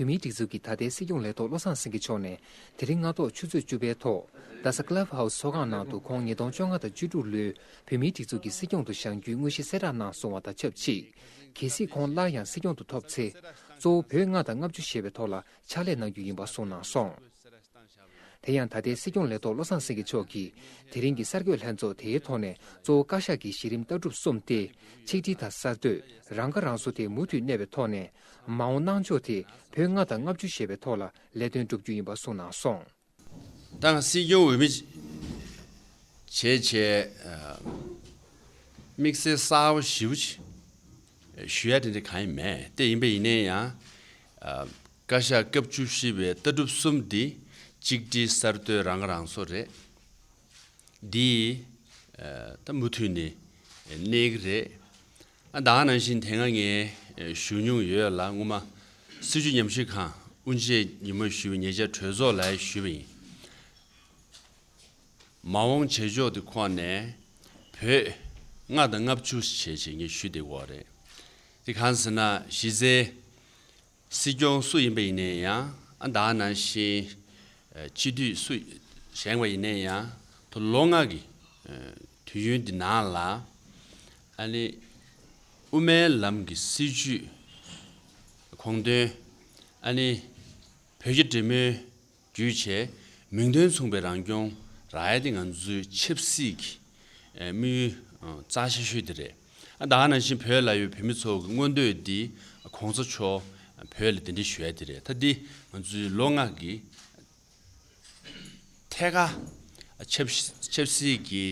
བོད་མིའི་སྒྲིག་འཛུགས་ཀྱི་ད་ལྟའི་སྲིད་སྐྱོང་ལས་ཐོག་བློ་བཟང་སེང་གེ་མཆོག་ནས་དེ་རིང་སྔ་ཐོག་ཆུ་ཚོད་བཅུ་པའི་ཐོག་རྡ་ས Club House ཚོགས་ཁང་ནང་དུ་ཁོང་ཉིས་སྟོང་བཅོ་ལྔ་དང་བཅུ་དྲུག་ལོའི་བོད་མིའི་སྒྲིག་འཛུགས་ཀྱི་སྲིད་སྐྱོང་དུ་བཞེངས་རྒྱུའི་དངོས་གཞི་གསལ་བསྒྲགས་གནང་སོང་བ་དང་ཆབས་ཅིག་གལ་སྲིད་ཁོང་སླར་ཡང་སྲིད་སྐྱོང་དུ་ཐོབ་ཚེ། གཙོ་བོ་བོད་ལྔ་དང་ལྔ་བཅུ་ཞེས་པའི་ཐོག་ལ་ཕྱག་ལས་གནང་རྒྱུ་ཡིན་པ་གསུངས་གནང་སོང། དེ་ཡང་ད་ལྟའི་སྲིད་སྐྱོང་ལས་ཐོག་བློ་བཟང་སེང་གེ་མཆོག་གིས་དེ་རིང་གི་གསར་འགོད་ལྷན་ཚོགས་དེའི་ཐོག་ནས་གཙོ་བོ་བཀའ་ཤག་གི་གཞི་རིམ་ལྟ་གྲུབ་གསུམ་སྟེ། ཆིག་སྒྲིལ་དང་གསར་གཏོད་རང་ཁ་རང་གསོ་དེ་མུ་མཐུད་གནས་པའི་ཐོག་ནས། མ་འོངས་གནང་ཕྱོགས་དེ་བོད་ལྔ་དང་ལྔ་བཅུ་ཞེས་པའི་ཐོག་ལ་ལས་དོན་བསྒྲུབ་རྒྱུ་ཡིན་པ་གསུངས་གནང་སོང། ཏང་སྲིད་སྐྱོང་འོས་མི་བྱེད་ཆེད་དམིགས་བསལ་གསལ་བོ་ཞུ་ཡ་དེ་འདྲ་གང་ཡང་མེད་དེ་ཡིན་པ་ཡིན་ན་ཡང། བཀའ་ཤག་སྐབས་བཅུ་བཞི་བའི་ལྟ་གྲུབ་གསུམ་འདི་གཅིག་སྒྲིལ་གསར་གཏོད་རང་ཁ་རང་གསོ་རེད། འདིས་ད་མུ་མཐུད་ནས་གནས་ཀྱི་རེད། ཟླ་ནང་བཞིན་དེ་སྔ་ངས་ཞུ་མྱོང་ཡོད་ལ་སྔོན་མ་སྲིད་བྱུས་ཉམས་ཞིབ་ཁང་དབུ་འབྱེད་ཉིན་མོ་ཞུ་བའི་ཉེ་ཆར་གྲོས་ཚོགས་ལ་ཞུས་པ་ཡིན། མ་འོངས་བྱེད་ཕྱོགས་དེ་ཁོ་ནས་བོད་ལྔ་དང་ལྔ་བཅུ་བྱེད་ཆེད་ངས་ཞུ་བདེ་གོ་རེད། དེ་གང་ཟེར་ན་གཞི་རྩའི། སྲིད་སྐྱོང་སུ་ཡིན་པ་ཡིན་ནས་ཡང་དག་ན་བཞིན། སྤྱི་འཐུས་སུ་བཞེངས་པ་ཡིན་ནས་ཡང་དུ་ལོ་ལྔ་གི་དུས་ཡུན་འདི་ནང་ལ། ཨ་ནི་དབུ་མའི་ལམ་གྱི་སྲིད་བྱུས་དགོངས་དོན། ཨ་ནི་བོད་རྒྱ་འབྲེལ་མོལ་རྒྱུ་ཆ། མིང་དོན་མཚུངས་པའི་རང་སྐྱོང་རྭའི་དེ་ང་ཚོའི་ཆབ་སྲིད་ཀྱི་དམིགས་ཡུལ་རྩ་ཆེ་ཤོས་དེ་རེད། ད་ནང་བཞིན་བོད་ལ་ཡོད་བོད་མི་ཚོ་གི་མངོན་འདོད་དེ་གོང་ས་མཆོག་བོད་ལ་འདི་འདྲི་ཞུ་ཡ་དེ་རེད་ད་འདི་ང་ཚོའི་ལོ་ལྔ་གི་ཐད་ཀ་ཆབ་སྲིད་ཀྱི་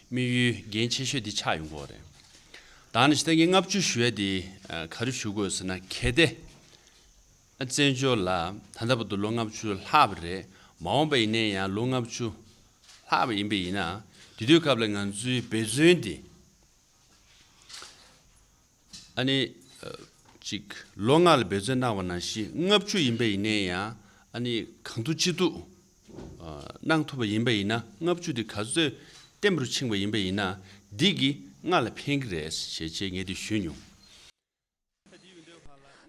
དམིགས་ཡུལ་འགན་ཆེ་ཤོས་དེ་ཆགས་ཡོང་གོ་རེད། ད་ནང་བཞིན་ད་ངས་ལྔ་བཅུ་ཞུ་ཡ་དེ་ག་རེ་ཞུ་དགོས་ཟེར་ན་གལ་ཏེ། བཙན་བྱོལ་ལ་ད་ལྟ་བར་དུ་ལོ་ལྔ་བཅུ་ལྷག་བ་རེད། མ་འོངས་པ་ཡིན་ནའི་ཡང་ལོ་ལྔ་བཅུ་ལྷག་བ་ཡིན་པས་ཡིན་ན། དེ་དུས་སྐབས་ལ་ང་ཚོའི་འབད་བརྩོན་དེ། ཨ་ནི། ཅིག་ལོ་ལྔ་ལ་འབད་བརྩོན་གནང་བ་ན་བཞི་ལྔ་བཅུ་ཡིན་པས་ཡིན་ནའི་ཡང་ཨ་ནི་གང་ཐུབ་ཅི་ཐུབ་གནང་ཐུབ་པ་ཡིན་པས་ཡིན་ན་ལྔ་བཅུ་དེ་ག་ཚོད་བརྟན་པོར་ཕྱིན་པ་ཡིན་པས་ཡིན་ན་འདིས་ཀྱིས་ལྔ་ལ་ཕན་གྱི་རེད་ཞེས་ཆེ་ངེས་དེ་ཞུས་མྱོང།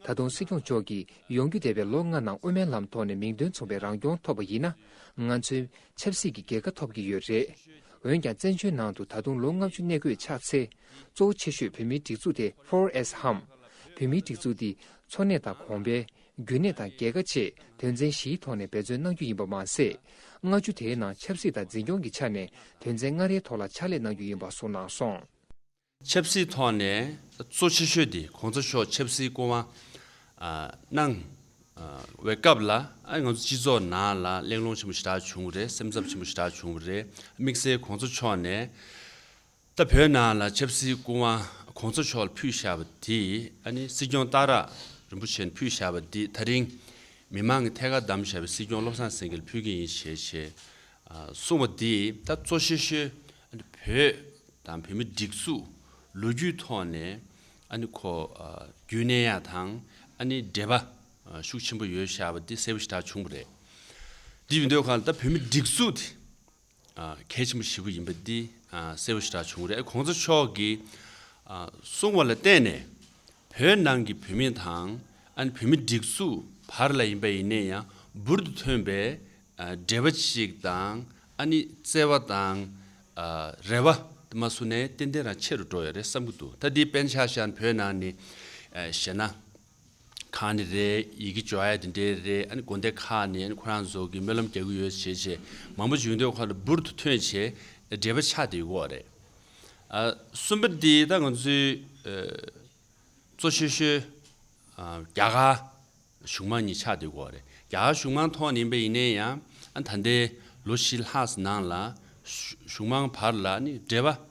ད་དུང་སྲིད་སྐྱོང་མཆོག་གིས་ཡོང་རྒྱུ་འདས་པའི་ལོ་ལྔ་ནང་དབུ་མའི་ལམ་ཐོག་ནས་མིང་དོན་མཚུངས་པའི་རང་སྐྱོང་ཐོབ་པ་ཡིན་ན། ང་ཚོའི་ཆབ་སྲིད་ཀྱི་རྒྱལ་ཁ་ཐོབ་ཀྱི་ཡོད་རེད། འོན་ཀྱང་བཙན་བྱོལ་ནང་དུ་ད་དུང་ལོ་ལྔ་བཅུ་གནས་དགོས་ཆགས་ཚེ། གཙོ་བོ་ཆེ་ཤོས་བོད་མིའི་སྒྲིག་འཛུགས་དེ་ཧྥོར་ཨེས་ཧམ། བོད་མིའི་སྒྲིག་འཛུགས་འདི་འཚོ་གནས་དང་གོང་འཕེལ། རྒྱུན་གནས་དང་རྒྱལ་ཁ་བཅས་དོན་ཚན་བཞིའི་ཐོག་ནས་འབད་བརྩོན་གནང་རྒྱུ་ཡིན་པ་མ་ཟད། ལྔ་བཅུ་དེའི་ནང་ཆབ་སྲིད་དང་འཛིན་སྐྱོང་གི་ཆ་ནས་དོན་ཚན་ལྔ་རེའི་ཐོག་ལ་ཕྱག་ལས་གནང་རྒྱུ་ཡིན་པ་གསུངས་གནང་སོང། ཆབ་སྲིད་ཐོག་ནས་གཙོ་ཆེ་ཤོས་དེ་གོང་ས་མཆོག་ཆབ་སྲིད་སྐུ་དབང་གནང་བའི་སྐབས་ལ་ང་ཚོ་སྤྱི་ཚོགས་ནང་ལ་གླེང་སློང་ཆེན་པོ་ཞེ་དྲག་བྱུང་བ་རེད་སེམས་འཚབ་ཆེན་པོ་ཞེ་དྲག་བྱུང་བ་རེད་དམིགས་བསལ་གོང་ས་མཆོག་ནས་ད་བོད་ནང་ལ་ཆབ་སྲིད་སྐུ་དབང་གོང་ས་མཆོག་ལ་ཕུལ་བཞག་པ་དེ་ཨ་ནི་སྲིད་སྐྱོང་སྟག་རག་རིན་པོ་ཆེ་ནས་ཕུལ་བཞག་པ་དེ་ད་རིང་མི་མང་གི་ཐད་ཀར་བདམས་བཞག་པའི་སྲིད་སྐྱོང་བློ་བཟང་སེང་གེ་ལ་ཕུལ་གྱི་ཡིན་ཞེས་གསུངས་པ་དེ་ད་གཙོ་ཆེ་ཤོས་བོད་དང་བོད་མི་སྒྲིག་འཛུགས་ལོ་རྒྱུས་ཐོག་ནས་ཁོ་རྒྱུན་གནས་ཡག་དང་འབྲེལ་པ་ཤུགས་ཆེན་པོ་ཡོད་ཤག་པ་དེ་གསལ་པོ་ཞིག་གྲགས་བྱུང་བ་རེད། འདི་མི་འདོད་ཁང་ད་བོད་མི་སྒྲིག་འཛུགས་དེ་གལ་ཆེན་པོ་ཞིག་པོ་ཡིན་པ་འདི་གསལ་པོ་ཞིག་གྲགས་བྱུང་བ་རེད། གོང་ས་མཆོག་གིས་གསུངས་བ་ལ་བརྟེན་ནས་བོད་ནང་གི་བོད་མི་དང་ཨན་བོད་མི་སྒྲིག་འཛུགས་བར་ལ་ཡིན་པ་ཡིན་ནས་ཡང་འབུར་དུ་ཐོན་པའི་འབྲེལ་བ་ཞིག་དང་ཨ་ནི་བརྩེ་བ་དང་རེ་བ་དེ་མ་སུ་ནའི་ཏན་ཏན་རང་ཆེ་རུ་འགྲོ་ཡ་རེད་བསམ་གི་འདུག་ད་འདི་པན་ཤ་ཤ་ཨན་བོད་ནང་ནི་ཞེ་ན་གང་ནི་རེད་ཡི་གེ་འབྱོར་ཡ་དེ་འདྲའི་རེད་ཨ་ནི་དགོན་སྡེ་ཁག་ནི་ཨ་ནི་ཁོ་རང་ཚོ་གི་སྨོན་ལམ་རྒྱག་གི་ཡོད་བྱས་བྱས་མང་པོ་བྱུང་འདུག་ཁོ་ལ་འབུར་དུ་ཐོན་བྱས་འབྲེལ་བ་ཆགས་འདི་འོག་རེད། གསུམ་པ་འདི་ད་ང་ཚོའི་གཙོ་ཤོས་ཤོས་རྒྱ་གར་གཞུང་མང་གཉིས་ཆགས་འདི་གོ་རེད། རྒྱ་གར་གཞུང་མང་ཐོག་ནས་ཡིན་པ་ཡིན་ནའི་ཡང་ད་ལྟའི་ལོ་བཞི་ལྷག་གི་ནང་ལ་གཞུང་མང་བར་ལ་ནི་འབྲེལ་བ་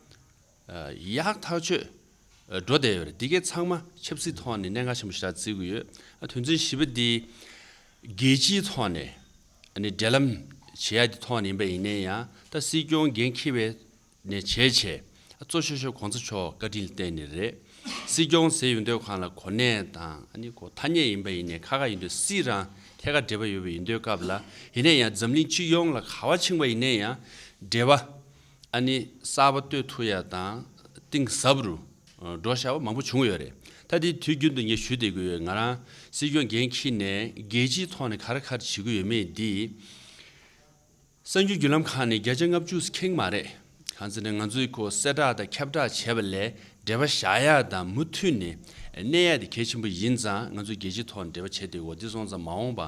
ཡག་ཐག་ཆོད་འགྲོ་བསྡད་ཡོད་རེད། འདི་གའི་ཚང་མ་ཆབ་སྲིད་ཐོག་ནས་གནད་འགག་ཆེན་པོ་ཞིག་ད་བརྩི་དགོས་ཡོད། དོན་ཚན་བཞི་པ་འདི་རྒྱལ་སྤྱིའི་ཐོག་ནས་འབྲེལ་ལམ་བྱེད་ཡག་འདི་ཐོག་ནས་ཡིན་པ་ཡིན་ནའི་ཡང་ད་སྲིད་སྐྱོང་འགན་འཁྱེར་བའི་ནས་བྱས་བྱས། གཙོ་ཤོ་ཤོ་གོང་ས་མཆོག་བཀའ་དྲིན་བརྟེན་ནས་རེད། སྲིད་སྐྱོང་ཟེར་ཡོད་འདོད་ཁང་ལ་གོ་གནས་དང་ཨ་ནི་གོ་ཐ་སྙད་ཡིན་པ་ཡིན་ནས་ཁ་ཁ་ཡིན་འདོད་སྲིད་རང་ཐད་ཀར་འབྲེལ་བ་ཡོད་པ་ཡིན་འདོད་སྐབས་ལ་ཡིན་ནས་ཡང་འཛམ་གླིང་སྤྱི་ཡོངས་ལ་ག་བ་འཆིང་པ་ཡིན་ནས་ཡང་འབྲེལ་བ་ཨ་ནི་གསར་བ་གཏོད་ཐུ་ཡ་དང་གཏིང་ཟབ་རུ་འགྲོ་ཤ་བ་མང་པོ་བྱུང་ཡོད་རེད་ད་དེ་དུས་རྒྱུན་དུ་ངས་ཞུ་བསྡད་གི་ཡོད་ང་རང་སྲིད་སྐྱོང་འགན་འཁྱིར་ནས་རྒྱལ་སྤྱིའི་ཐོག་ནས་ག་རེ་ག་རེ་བྱེད་གི་ཡོད་མེད་འདི། གསར་འགྱུར་བརྒྱུད་ལམ་ཁག་ནི་བརྒྱ་ཆ་ལྔ་བཅུ་ཟིག་ཁེངས་མ་རེད། གང་ཟེར་ན་ང་ཚོས་ཁོ་གསལ་བསྒྲགས་དང་ཁྱབ་བསྒྲགས་བྱས་པ་ལས་འབྲེལ་བ་བཞག་ཡག་དང་མུ་མཐུད་ནས་གནས་ཡག་དེ་གལ་ཆེན་པོ་ཡིན་ཙང་ང་ཚོས་རྒྱལ་སྤྱིའི་ཐོག་ནས་འབྲེལ་བ་བྱས་ཏེ་འོ་དེ་སོང་ཙང་མ་འོངས་པ་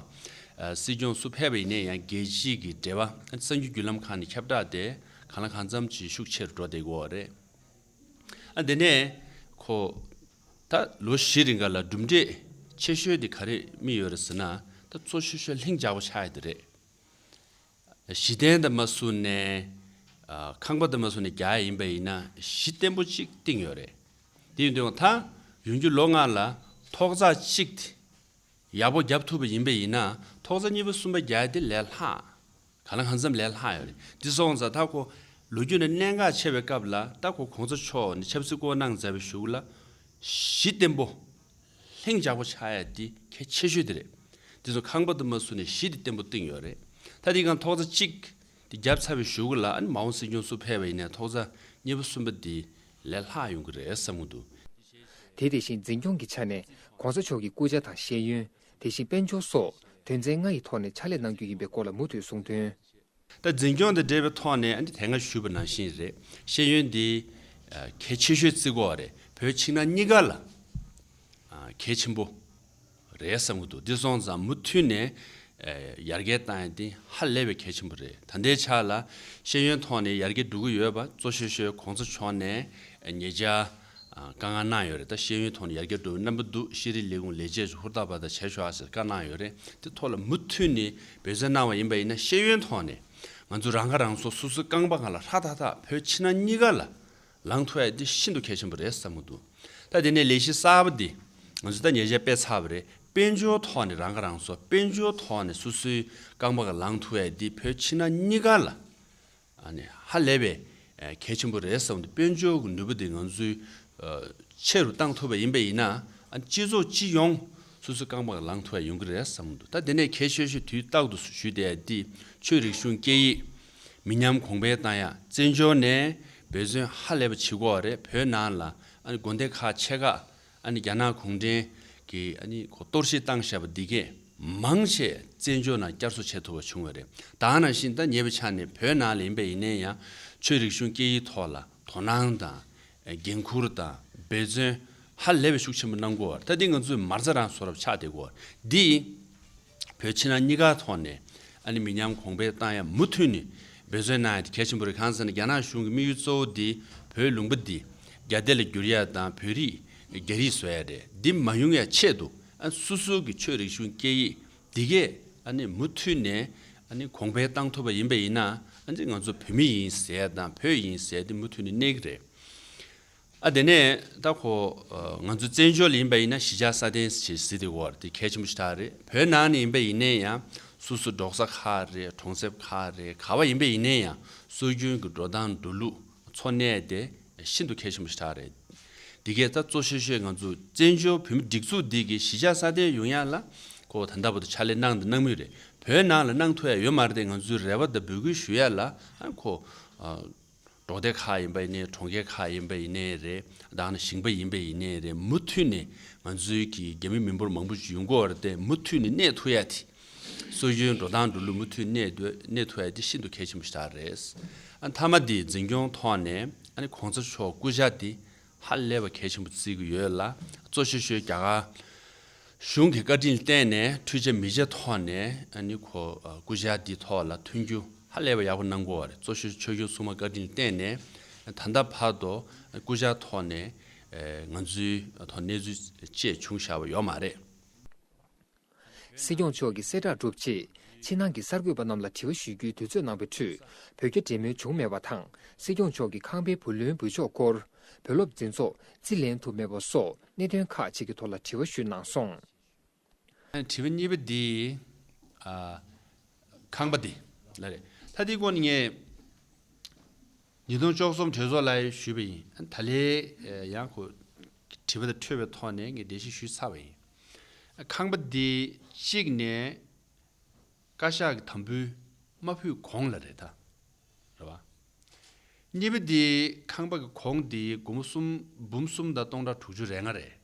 སྲིད་སྐྱོང་སུ་ཕེབས་པ་ཡིན་ན་ཡང་རྒྱལ་སྤྱི་གི་འབྲེལ་བ་གསར་འགྱུར་བརྒྱུད་ལམ་ཁག་ནས་ཁྱབ་བསྒྲགས་དེ་གང་ལ་གང་འཚམ་གྱིས་ཤུགས་ཆེ་རུ་འགྲོ་བསྡད་དགོས་བ་རེད། དེ་ནས་ཁོ། ད་ལོ་བཞི་རེ་འགའ་ལ་གྲུབ་འབྲས་ཆེ་ཤོས་དེ་ག་རེ་རྨིས་ཡོད་རེད་ཟེར་ན་ད་གཙོ་ཆེ་ཤོས་ལྷིང་འཇགས་པོ་ཆགས་ཡོད་དེ་རེད། གཞི་རྟེན་དུ་མ་བཟུང་ནས་ཁང་པ་དུ་མ་བཟུང་ནས་བརྒྱ་ཡིན་པ་ཡིན་ན་གཞི་བརྟན་པོ་གཅིག་བཏིང་ཡོད་རེད། དེ་ཡིན་དུས་ཡང་དང་ཡུན་གྱི་ལོ་ལྔ་ལ་ཐོག་རྩ་གཅིག་ཡག་པོ་བརྒྱབ་ཐུབ་པ་ཡིན་པ་ཡིན་ན་ཐོག་རྩ་གཉིས་པ་གསུམ་པ་བརྒྱ་དེ་ལས་ལྷག་ག་ལ་གང་འཚམས་ལས་ལྷག་ཡོད་རེད། འདི་སོང་ཙང་ད་ཁོ་ལོ་རྒྱུས་ནས་གནད་འགག་ཆེ་བའི་སྐབས་ལ་ད་ཁོ་གོང་ས་མཆོག་ནས་ཆབ་སྲིད་བསྐོ་གནང་མཛད་པའི་གཞུག་ལ་གཞི་བརྟན་པོ་ལྷིང་འཇགས་པོ་ཆགས་ཡ་དེ་གལ་ཆེ་ཤོས་དེ་རེད། དེ་ཚོ་ཁང་པ་དུ་མ་བསུ་ནས་གཞི་དེ་བརྟན་པོ་བཏིང་ཡོད་རེད། ད་དེ་གང་ཐོག་རྩ་གཅིག་དེ་བརྒྱབ་ཚར་བའི་ཞོགས་གུ་ལ་ཨ་ནི་མ་འོངས་སྲིད་སྐྱོང་སུ་ཕེབས་པ་ཡིན་ནའི་ཐོག་རྩ་གཉིས་པ་གསུམ་པ་དེ་ལས་ལྷག་ཡོང་གི་རེད་བསམ་གི་འདུག་དེ་བྱས་རྗེས། དེ་དེ་བཞིན་འཛིན་སྐྱོང་གི་ཆ་ནས ྋགོང་ས་མཆོག་གི་སྐུ་ཕྱྭ་དང་ཤེས་ཡོན་དེ་བཞིན་དཔལ་འབྱོར་སོགས་དོན་ཚན་ལྔ་ཡི་ཐོག་ནས་ཕྱག་ལས་གནང་རྒྱུ་ཡིན་པའི་སྐོར་ལ་མུ་མཐུད་གསུང་དོན། ལྟར་འཛིན་སྐྱོང་དང་འབྲེལ་བའི་ཐོག་ནས་དེ་སྔ་ཞུས་པ་ནང་བཞིན་རེད། ཤེས་ཡོན་འདི་གལ་ཆེ་ཤོས་བརྩི་གོ་བ་རེད། བོད་ཕྱི་ནང་གཉིས་ཀ་ལ་གལ་ཆེན་པོ་རེད་བསམ་གྱི་འདུག་དེ་སོང་ཙང་མུ་མཐུད་ནས་ཡར་རྒྱས་བཏང་ཡ་དེ་ཧ་ལས་པའི་གལ་ཆེན་པོ་རེད། ད་ལྟའི་ཆ་ལ་ཤེས་ཡོན་ཐོག་ནས་ཡར་རྒྱས་འགྲོ་གི་ཡོད་པ་གཙོ་ཤོས་ཤོས་གོང་ས་མཆོག་ནས་ངེད་ཅག་བཀའ་མངགས་གནང་ཡོད་རེད་ད་ཤེས་ཡོན་ཐོག་ནས་ཡར་རྒྱས་འགྲོ་བའི་རྣམ་པ་འདུག་ཤེས་རིག་ལས་ཁུངས་ལས་བྱེད་ཚོ་ཧུར་ཐག་པ་ད་བྱས་ཤོག་ཨ་ཟེར་བཀའ་གནང་ཡོད་རེད་དེ་ཐོག་ལ་མུ་མཐུད་ནས་འབོད་བསྩལ་གནང་བ་ཡིན་པ་ཡིན་ན་ཤེས་ཡོན་ཐོག་ནས་ང་ཚོ་རང་ཁ་རང་གསོ་སོ་སོའི་རྐང་པ་གང་ལ་ལྷག་ཐག་ཐག་བོད་ཕྱི་ནང་གཉིས་ཀ་ལ་ལངས་ཐུབ་ཨེ་འདི་ཤིན་ཏུ་གལ་ཆེན་པོ་རེད་བསམ་མོ་འདུག་ད་དེ་ནས་ལས་གཞི་གསར་པ་འདི་ང་ཚོས་ད་ཉེ་ཆར་སྤེལ་ཚར་བ་རེད་དཔལ་འབྱོར་ཐོག་ནས་རང་ཁ་རང་གསོ་དཔལ་འབྱོར་ཐོག་ནས་སོ་སོའི་རྐང་པ་གང་ལ་ལངས་ཐུབ་ཨེ་འདི་བོད་ཕྱི་ནང་གཉིས་ཀ་ལ་ཧ་ལས་པའི་གལ་ཆེན་པོ་རེད་བསམ་འདུག་དཔལ་འབྱོར་གྱི་ནུས་པ་དེ་ང་ཚོས་ཆེ་རུ་བཏང་ཐུབ་པ་ཡིན་པ་ཡིན་ན་སྤྱི་ཚོགས་སྤྱི་ཡོངས་སོ་སོའི་རྐང་པར་ལངས་ཐུབ་པ་ཡོང་གི་རེད་བསམ་འདུག་ད་དེ་ནས་ཁྱེད་ཤོད་ཤོད་དུས་རྟག་ཏུ་ཞུས་ཏེ་འདི་ཆོས་རིག་གཞུང་སྐད་ཡིག་མི་ཉམས་གོང་འཕེལ་བཏང་ཡ་བཙན་བྱོལ་ནས་འབད་བརྩོན་ཧ་ལས་པ་བྱེད་དགོས་བ་རེད་བོད་ནང་ལ་དགོན་སྡེ་ཁག་ཆེ་ཁག་ཨ་ནི་རྒྱ་ནག་གུང་ཁྲན་གྱི་ཨ་ནི་གཏོར་བཤིག་བཏང་བཞག་པ་འདི་གས་མང་ཆེས་བཙན་བྱོལ་ནང་བསྐྱར་གསོ་བྱེད་ཐུབ་པ་བྱུང་བ་རེད་ད་ནང་བཞིན་ད་ཉེ་བའི་ཆ་ནས་བོད་ནང་ལ་ཡིན་པ་ཡིན་ནའི་ཡང་ཆོས་རིག་གཞུང་སྐད་ཡིག་ཐོག་ལ་དོ་སྣང་དང། འགན་ཁུར་དང་འབད་བརྩོན་ཧ་ལས་པའི་ཤུགས་ཆེན་པོ་གནང་དགོས་བར་ད་འདི་ང་ཚོས་མར་རྩ་རང་བཟོ་རབས་ཆགས་བསྡད་དགོས་བར་འདི། བོད་ཕྱི་ནང་གཉིས་ཀ་ཐོག་ནས་ཨ་ནི་མི་ཉམས་གོང་འཕེལ་གཏང་ཡ་མུ་མཐུད་ནས་འབད་བརྩོན་གནང་ཡ་དེ་གལ་ཆེན་པོ་རེད་གང་ཟེར་ན་རྒྱ་ནག་གཞུང་གི་དམིགས་ཡུལ་གཙོ་བོ་དེ་བོད་ལུང་པ་འདི་རྒྱ་སྡེ་ལ་བསྒྱུར་ཡ་དང་བོད་རིགས་རྒྱ་རིགས་བཟོ་ཡ་རེད་འདི་མ་ཡོང་ཡ་ཆེད་དུ་ཨ་ནི་སོ་སོ་གི་ཆོས་རིག་གཞུང་སྐད་ཡིག་འདི་གས་ཨ་ནི་མུ་མཐུད་ནས་ཨ་ནི་གོང་འཕེལ་གཏང་ཐུབ་པ་ཡིན་པ་ཡིན་ན་ཨ་ནི་ང་ཚོ་བོད་མི་ཡིན་ཟེར་ཡ་དང་བོད་ཡིན་ཟེར་ཡ་འདི་མུ་མཐུད་ནས་གནས་གི་རེད། ཨ་དེ་ནས་ད་ཁོ་ང་ཚོའི་བཙན་བྱོལ་ལ་ཡིན་པ་ཡིན་ན་ཞི་འཇགས་སྲ་བརྟན་བྱེད་སྲིད་དེ་འོར་དེ་གལ་ཆེན་པོ་ཞིག་ཐག་རེད་བོད་ནང་ནས་ཡིན་པ་ཡིན་ནས་ཡང་སུ་སུ་འབྲོག་ས་ཁག་རེད་གྲོང་གསེབ་ཁག་རེད་ག་བ་ཡིན་པ་ཡིན་ནས་ཡང་སྲོལ་རྒྱུན་གྱི་འགྲོ་སྟངས་འགྲོ་ལུགས་འཚོ་གནས་དེ་ཤིན་ཏུ་གལ་ཆེན་པོ་ཞིག་ཐག་རེད་དེ་གས་ད་གཙོ་ཤོས་ཤོས་ང་ཚོ་བཙན་བྱོལ་བོད་མི་སྒྲིག་འཛུགས་འདི་གི་ཞི་འཇགས་སྲ་བརྟན་ཡོང་ཡག་ལ་ཁོ་ད་ལྟ་བུ་དང་ཕྱག་ལས་གནང་དང་གནང་མུས་རེད་བོད་ནང་ལ་གནང་ཐུ་ཡག་ཡོད་མ་རེད་ང་ཚོའི་རེ་བ་དང་འབོད་སྐུལ་ཞུ་ཡག་ལ་ཁོ། གྲོང་སྡེ་ཁག་ཡིན་པ་ཡིན་ནའི་གྲོང་ཁྱེར་ཁག་ཡིན་པ་ཡིན་ནའི་རེད་དང་ནི་ཞིང་པ་ཡིན་པ་ཡིན་ནའི་རེད་མུ་མཐུད་ནས་ང་ཚོའི་གི་རྒྱ་མི་མི་འབོར་མང་པོ་ཡོང་གི་འོར་ཏེ་མུ་མཐུད་ནས་གནས་ཐུ་ཡ་དེ་སོ་ཡོའི་འགྲོ་སྟངས་འགྲོ་ལུགས་མུ་མཐུད་གནས་འདོད་གནས་ཐུ་ཡ་དེ་ཤིན་ཏུ་གལ་ཆེན་པོ་ཞིག་རེད། མཐའ་མ་དེ་འཛིན་སྐྱོང་ཐོག་ནས་ཨ་ནི་གོང་ས་མཆོག་སྐུ་ཞག་དེ་ཧ་ལས་པ་གལ་ཆེན་པོ་བརྩི་གི་ཡོད་ལ་གཙོ་ཆེ་ཤོས་རྒྱ་གར་གཞུང་གིས་བཀའ་དྲིན་བརྟེན་ནས་འཕྲུལ་ཆས་མི་ཆེ་ཐོག་ནས་ནི་གོ་སྐུ་བཞག་འདིའི་ཐོག་ལ་ཐོན་རྒྱུ་ཧ་ལས་པ་ཡག་པོ་གནང་དགོས་བ་རེད་གཙོ་ཆེ་ཆོས་གཞུང་ཚུགས་མ་བཀའ་དྲིན་བརྟེན་ནས་ད་ལྟ་བར་དུ་སྐུ་བཞག་ཐོག་ནས་ང་ཚོའི་ཐོག་གནས་ཚུལ་བཅས་བྱུང་བཞག་པ་ཡོག་མ་རེད། སྲིད་སྐྱོང་མཆོག་གིས་གསལ་བསྒྲགས་གྲུབ་རྗེས་ཕྱི་ནང་གི་གསར་འགོད་པ་རྣམས་ལ་དྲི་བ་ཞུ་རྒྱུའི་དུས་ཚོད་གནང་པའི་ཁྲོད་བོད་རྒྱ་འབྲེལ་མོལ་བྱུང་མེད་པ་དང་སྲིད་སྐྱོང་མཆོག་གིས་ཁང་པའི་བུ་ལོན་འབུལ་ཕྱོགས་སྐོར་བོད་སློབ་འཛིན་ཚོགས་རྩིས་ལེན་ཐུབ་མེད་པ་སོགས་གནད་དོན་ཁག་ཅིག་གི་ཐོག་ལ་དྲི་བ་ཞུས་གནང་སོང། དྲི་བ་གཉིས་པ་འདི། ཁང་པ་འདི། ལ་རེད། ད་འདིའི་སྐོར་ནས་ངས། ཉིས་སྟོང་བཅོ་གསུམ་གྲོས་ཚོགས་ལ་ཞུས་པ་ཡིན། ད་ལེ་ཡང་ཁོ། དྲི་བ་དེ་འཕྲོས་པའི་ཐོག་ནས་ངས་འགྲེལ་བཤད་ཞུས་ཚར་བ་ཡིན། ཁང་པ་འདི་གཅིག་ནས། བཀའ་ཤག་གི་དམ་འབུལ་མ་ཕུལ་གོང་ལ་རེད་ད། རེད་བ། གཉིས་པ་འདི་ཁང་པ་གི་གོང་འདི་དགུ་མོ་གསུམ་འབུམ་གསུམ་དང་སྟོང་ཕྲག་དྲུག་ཅུ་རེ་ལྔ་རེད།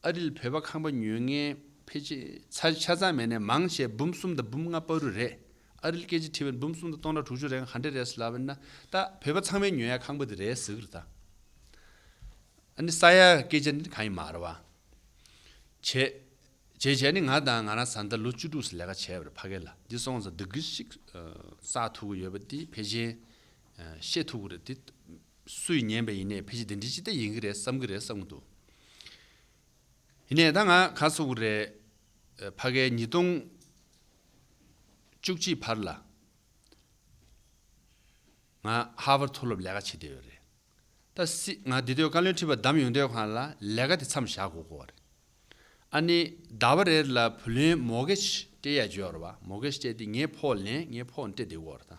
ཨ་རིལ་བོད་པ་ཁང་པ་ཉོས་ངའི་ཕེ་ཆེ་ཆ་ཚང་མེད་ནས་མང་ཆེ་འབུམ་གསུམ་དང་འབུམ་ལྔ་པ་རུ་རེད་ཨ་རིལ་སྐད་ཆེ་ཁྲི་བས་འབུམ་གསུམ་དང་སྟོང་ཕྲག་དྲུག་ཅུ་རེའང་ག་འདྲེ་རེད་ཟེར་ལབ་བས་ན་ད་བོད་པ་ཚང་མའི་ཉོས་ཡ་ཁང་པ་དེ་རེད་ཟེར་གི་རེད་ད་ནི་ས་ཡ་སྐད་ཆ་ནི་གང་ཡིན་མར་བ་བྱེད་བྱེད་བྱས་ནི་ང་དང་ང་རང་བཟའ་ཟླ་ལོ་བཅུ་དྲུག་སི་ལས་ཀ་བྱས་བར་ཕ་གེ་ལ་འདི་སོང་ཟ་འདི་གི་ཞིག་བསགས་ཐུག་གི་ཡོད་པ་དེ་ཕེ་ཆེན་ཤེས་ཐུག་གི་རེད་དེ་སུ་ཡིས་ཉན་པའི་ཡིན་ནས་ཕལ་ཆེར་དེ་འདྲའི་ཅི་ལྟ་ཡིན་གྱི་རེད་བསམ་གྱི་རེད་བསམ་གྱི་འདུག་ཡིན་ནས་ད་ང་ག་ཚོད་ཀྱི་རེད། ཕ་གའི་ཉིས་སྟོང་བཅུ་གཅིག་བར་ལ་ང་ཧར་བར་མཐོ་སློབ་ལས་ཀ་བྱེད་བསྡད་ཡོད་རེད། ད་སྲིད་ང་འདི་དོད་བཀའ་བློན་ཁྲི་པ་བདམས་ཡོང་དོད་ཁང་ལ་ལས་ཀ་དེ་མཚམས་བཞག་དགོས་གོ་བ་རེད། ཨ་ནི་ཟླ་བ་རེར་ལ་བུ་ལོན་མོག་གེ་ཅི་སྤྲད་ཡ་བརྗོད་ཡོད་རེད་བ་མོག་གེ་ཅི་སྤྲད་དེ་ངའི་ཕོགས་ལེན་ངའི་ཕོགས་འབྲེ་བསྡད་ཡོད་རེད་ད།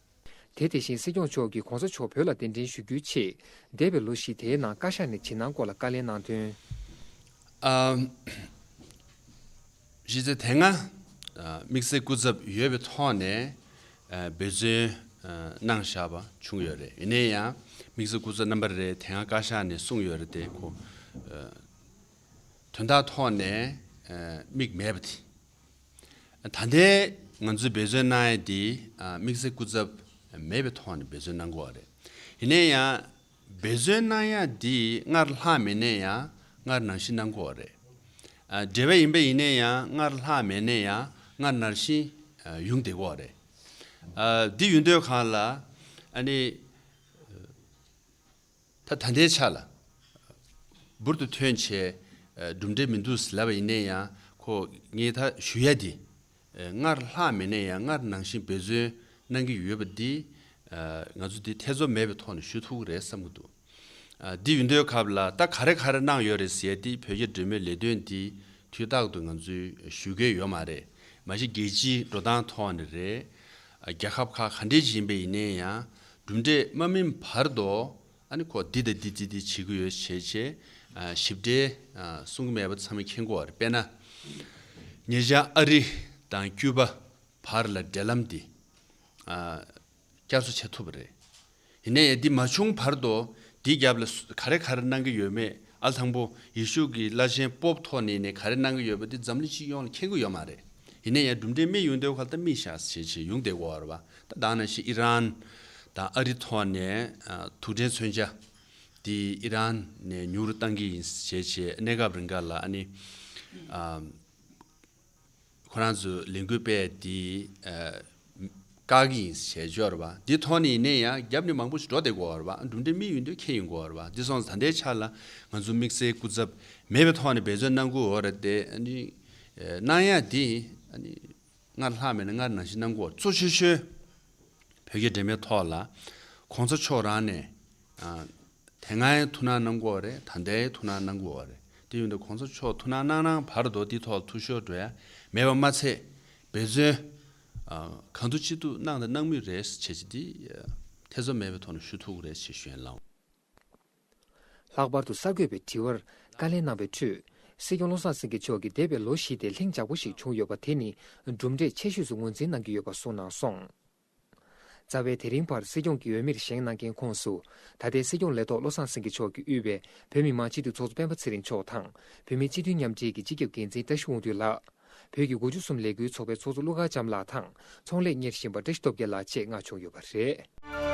དེ་དེ་བཞིན་སྲིད་སྐྱོང་མཆོག་གིས་གོང་ས་མཆོག་བོད་ལ་གདན་འདྲེན་ཞུ་རྒྱུའི་ཆེད། འདས་པའི་ལོ་བཞི་དེའི་ནང་བཀའ་ཤག་ནས་ཇི་གནང་སྐོར་ལ་བཀའ་ལན་གནང་དོན། གཞི་རྩའི་དེ་སྔ་དམིགས་བསལ་སྐུ་ཚབ་ཡོད་པའི་ཐོག་ནས་འབོད་བརྩོན་གནང་བཞག་པ་བྱུང་ཡོད་རེད། ཡིན་ན་ཡང་དམིགས་བསལ་སྐུ་ཚབ་རྣམ་པ་རེ་དེ་སྔ་བཀའ་ཤག་ནས་གསུངས་ཡོད་རེད་དེ། དོན་དག་ཐོག་ནས་དམིགས་མེད་པ་དེ། ད་ལྟའི་ང་ཚོས་འབད་བརྩོན་གནང་ཡས་དེ་དམིགས་བསལ་སྐུ་ཚབ་མེད་པའི་ཐོག་ནས་འབད་བརྩོན་གནང་དགོས་བ་རེད། ཡིན་ནས་ཡང་འབད་བརྩོན་གནང་ཡས་དེ་སྔར་ལྷག་མེད་ནས་ཡང་སྔར་ནང་བཞིན་གནང་དགོས་བ་རེད། འབྲེལ་བ་ཡིན་པ་ཡིན་ནས་ཡང་སྔར་ལྷག་མེད་ནས་ཡང་སྔར་ནར་བཞིན་ཡུང་བསྡད་དགོས་བ་རེད། འདི་ཡུན་སྡོད་གང་ལ་ཨ་ནི། ད་ད་ལྟའི་ཆ་ལ། འབུར་དུ་ཐོན་བྱས་གྲུབ་འབྲས་མི་འདུག་ཟེར་ལབ་པ་ཡིན་ནའི་ཡང་ཁོ་ངས་ད་ཞུ་ཡ་དེ། སྔར་ལྷག་མེད་ནའི་ཡང་སྔར་ནང་བཞིན་འབད་བརྩོན་གནང་གི་ཡོད་པ་འདི། ང་ཚོ་འདི་ཐེ་ཚོམ་མེད་པའི་ཐོག་ནས་ཞུ་ཐུབ་གི་རེད་བསམ་གི་འདུག་འདི་ཡུན་དོའི་ཁབ་ལ་ད་ག་རེ་ག་རེ་གནང་ཡོད་རེད་ཟེར་ཏེ་བོད་རྒྱ་འབྲེལ་མོལ་ལས་དོན་འདི་དུས་རྟག་ཏུ་ང་ཚོས་ཞུ་གི་ཡོད་མ་རེད་མ་གཞི་རྒྱལ་སྤྱིའི་འགྲོ་སྟངས་ཐོག་ནས་རེད། རྒྱ་ཁབ་ཁག་ག་འདྲའི་བཞིན་པ་ཡིན་ནའི་ཡང་གྲུབ་འབྲས་དམའ་མིན་བར་དུ་ཨ་ནི་ཁོ་འདི་དང་འདི་འདི་འདི་བྱེད་ཀྱི་ཡོད་ཞེས་ཞེས་ཞིབ་ཕྲའི་གསུང་གི་མེད་པ་ཚང་མ་མཁྱེན་གོ་བར་དཔེར་ན། ཉེ་ཆར་ཨ་རི་དང་ཀྱུ་པ་བར་ལ་འབྲེལ་ལམ་འདི་བསྐྱར་གསོ་བྱེད་ཐུབ་པ་རེད། ཡིན་ན་ཡང་འདི་མ་བྱུང་བར་དུ་འདིའི་རྒྱབ་ལ་ག་རེ་ག་རེ་གནང་གི་ཡོད་མེད་ཨ་ལ་དང་པོ་ཡེ་ཤུ་ཀྱི་བླ་ཆེན་པོབ་ཐོ་ནི་ནས་ག་རེ་གནང་གི་ཡོད་པ་འདི་འཛམ་གླིང་སྤྱི་ཡོངས་ལ་མཁྱེན་གི་ཡོད་མ་རེད། ཡིན་ན་ཡང་གྲུབ་འབྲས་མེད་ཡོང་དོན་ཁོ་ལ་ད་མི་ཤཱས་བྱས་བྱས་ཡོང་བསྡད་གོ་ར་བ་ད་དང་ན་ཤི་ཨི་རན་དང་ཨ་རི་ཐོག་ནས་ཐུག་འཕྲད་མཚོན་ཆ་དེ་ཨི་རན་ནས་ཉུག་རུ་བཏང་གི་ཡིན་བྱས་བྱས་གནས་སྐབས་རིང་ག་ལ་ཨ་ནི་ཁོ་རང་ཚོས་ལས་འགུལ་སྤེལ་དེ། བཀག་ཡིན་ཞེས་སྦྱོར་བ། འདི་མཐོང་ནས་ཡིན་ནས་ཡང་བརྒྱབ་ནས་མང་པོ་ཞིག་འགྲོ་བདེ་གོ་བར་འགྲུབ་འདྲེ་མི་ཡོད་འདོད་ཁེ་ཡིན་གོ་བར་འདི་སོང་ཟ་འདྲེ་ཆགས་ལ་ང་ཚོ་དམིགས་བསལ་སྐུ་ཚབ་མེད་པའི་ཐོག་ནས་འབད་བརྩོན་གནང་གོ་བར་དེ་གནང་ཡ་འདི་སྔར་ལྷག་མེད་ན་སྔར་ནང་བཞིན་གནང་གོ་བར་གཙོ་ཆེ་ཤོས་བོད་རྒྱ་འབྲེལ་མའི་ཐོག་ལ་གོང་ས་མཆོག་རང་ནས་དེ་སྔའི་ཐུགས་སྣང་གནང་གོ་རེད་ད་ལྟའི་ཐུགས་སྣང་གནང་གོ་བར་རེད་འདི་ཡོད་འདོད་གོང་ས་མཆོག་ཐུགས་སྣང་གནང་གནང་བར་དོ་འདི་ཐོག་ལ་ཐུགས་ཤོར་འགྲོ་ཡ་མེད་པ་མ་ཚད། འབད་བརྩོན། གང་ཐུབ་ཅི་ཐུབ་གནང་དང་གནང་མུས་རེད་བྱས་རྗེས་འདི་ཐེ་ཚོམ་མེད་པའི་ཐོག་ནས་ཞུ་ཐུག་རེད་བྱས་ཞུ་ཡན་ལག། ལྷག་པར་དུ་གསར་འགོད་པའི་དྲི་བར་བཀའ་ལན་གནང་བའི་ཁྲོད། སྲིད་སྐྱོང་བློ་བཟང་སེང་གེ་མཆོག་གིས་འདས་པའི་ལོ་བཞི་སྟེ་ལྷིང་འཇགས་པོ་ཞིག་བྱུང་ཡོད་པ་དེ་ནི་གྲུབ་འབྲས་ཆེ་ཤོས་སུ་ངོས་འཛིན་གནང་གི་ཡོད་པ་གསུངས་གནང་སོང། རྩ་བའི་དེ་རིང་བར་སྲིད་སྐྱོང་གི་འོས་མིར་བཞེངས་གནང་མཁན་ཁོངས་སུ། ད་ལྟའི་སྲིད་སྐྱོང་ལས་ཐོག་བློ་བཟང་སེང་གེ་མཆོག་གིས་དབུས་པའི་བོད་མི་མང་སྤྱི་འཐུས་ཚོགས་གཙོ་སྤེན་པ་ཚེ་རིང་མཆོག་དང། བོད་མི་སྤྱི་འཐུས་མཉམ་འབྲེལ་གྱི་སྤྱི་ཁྱབ་འགན་འཛིན་བཀྲ་ཤིས་དབང་འདུས་ལགས། བོད་ཀྱི་མགོ་འཇུག་གསུམ་ལས་འགུལ་ཚོགས་པའི་ཚོགས་གཙོ་ཀླུ་མཁར་བྱམས་ལགས་དང་ཚོང་ལས་གཉེར་བཞིན་པ་བཀྲ་ཤིས་སྟོབས་རྒྱལ་ལགས་བཅས་མངགས་བྱུང་ཡོད་པ་རེད།